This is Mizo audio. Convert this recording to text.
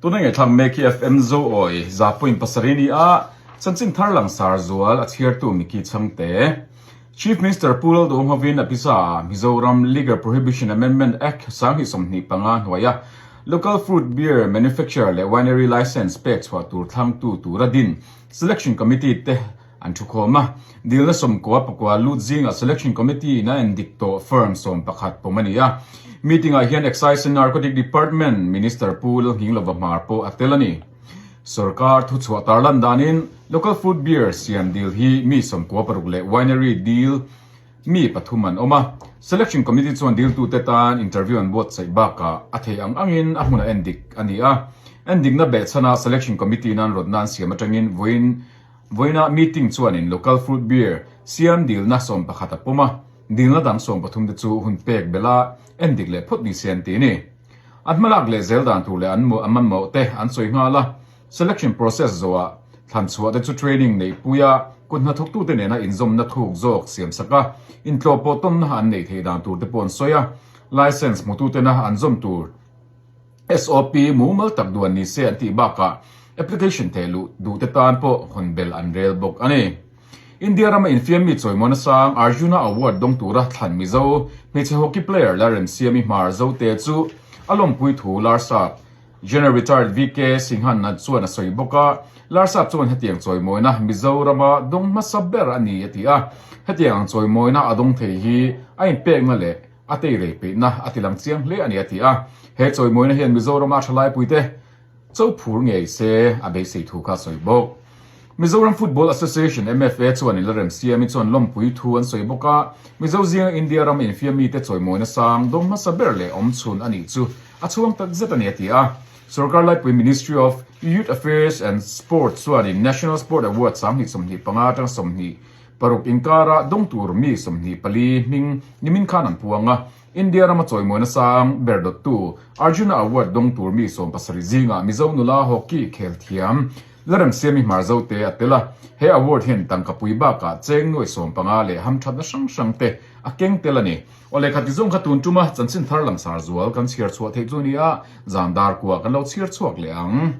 Tuna nge thlang mek hi FM zo awi za point pasarih ni a, chanchin thar langsar zual a chhiartu Micky Chhangte, Chief Minister Pu Lal Dawnghovin a pisa Mizoram Liquor Prohibition Amendment Act sanghnih sawmhnih panga hnuai a Local Fruit Beer Manufacturer leh Winery Licence pek chhuah tur thlangtu tura din Selection Committee te an thu khawm a. Dilna sawmkua pakua lut zingah selection committee in a en dik tawh firm sawm pakhat pawm a ni a. Meeting ah hian Excise and Narcotic Department Minister Pu Lalhning Lovamar pawh a tel a ni. Sorkar thu chhuah tar lan danin Local Food Beer siam dil hi mi sawmkua paruk leh Winery dil mi pathum an awm a. Selection committee chuan diltute tan interview an buatsaih bakah a thei ang angin a hmun a en dik a ni a. En dikna beh chhana selection committee nan rawtna an siam atangin vawiin Vawiinah meeting chuanin local fruit beer siam dilna sawm pakhat a pawm a, dilna dang sawm pathum te chu hun pek bela en dik leh phawt ni se an ti ni. An hmalak leh zel dan tur leh an mamawh te an sawi nghal a, selection process zawhah thlan chhuah te chu training neih puia kut hnathawk tute nena inzawmna thuk zawk siam saka intlawh pawh tawnna an nei thei dan tur te pawh an sawi a, licence hmututena an zawm tur SOP mumal tak duh an ni se an tih bakah application theh luh duhte tan pawh hun bel an rel bawk a ni. India rama infiammi chawimuana sang Arjuna Award dawng tura thlan mizo hmeichhe hockey player la remsiami hmar zote chu a lawmpui thu Larsap, General Retired VK Singhanna chuan a sawi bawk a, Larsap chuan hetiang chawimawina Mizorama dawng hmasa ber a ni a ti a, hetiang ang chawimawina a dawng thei hi a inpekna leh. a teirei peihna a tilang chiang hle a ni, a ti a. He chawimawina hian Mizorama thalaipuite Cho Phur ngei se a beisei thu kha a sawi bawk. Mizoram Football Association, MFA, chuan in la rem siamin chuan lawmpui thu an sawi bawk a, Mizo zinga India rama infiam mite chawimawina sang dawm hmasa ber leh awm chhun a nih chu a chhuang tak zet a ni, a ti a. Sorkar laipui Ministry of Youth Affairs and Sport chuan in National Sport Awards sang hnih sawmhnih panga atang sawmhnih Paruk inkara dawng tur mi sawmhnih pali hming nimin khan an puang a. India rama chawimawina sang ber dawttu Arjuna Award dawng tur mi sawm pasarih zingah Mizo nula hockey khel thiam la rem siam mi hmar zo te a tel a. He award hian Tangkapui bakah cheng nuai sawm panga leh ham thatna hrang hrang te a keng tel a ni. Aw le, kha ti zawng kha tun tum a, chanchin thar langsar zual kan chhiar chhuah theih chu a ni a, zan dar kuah kan lo chhiar chhuak leh ang.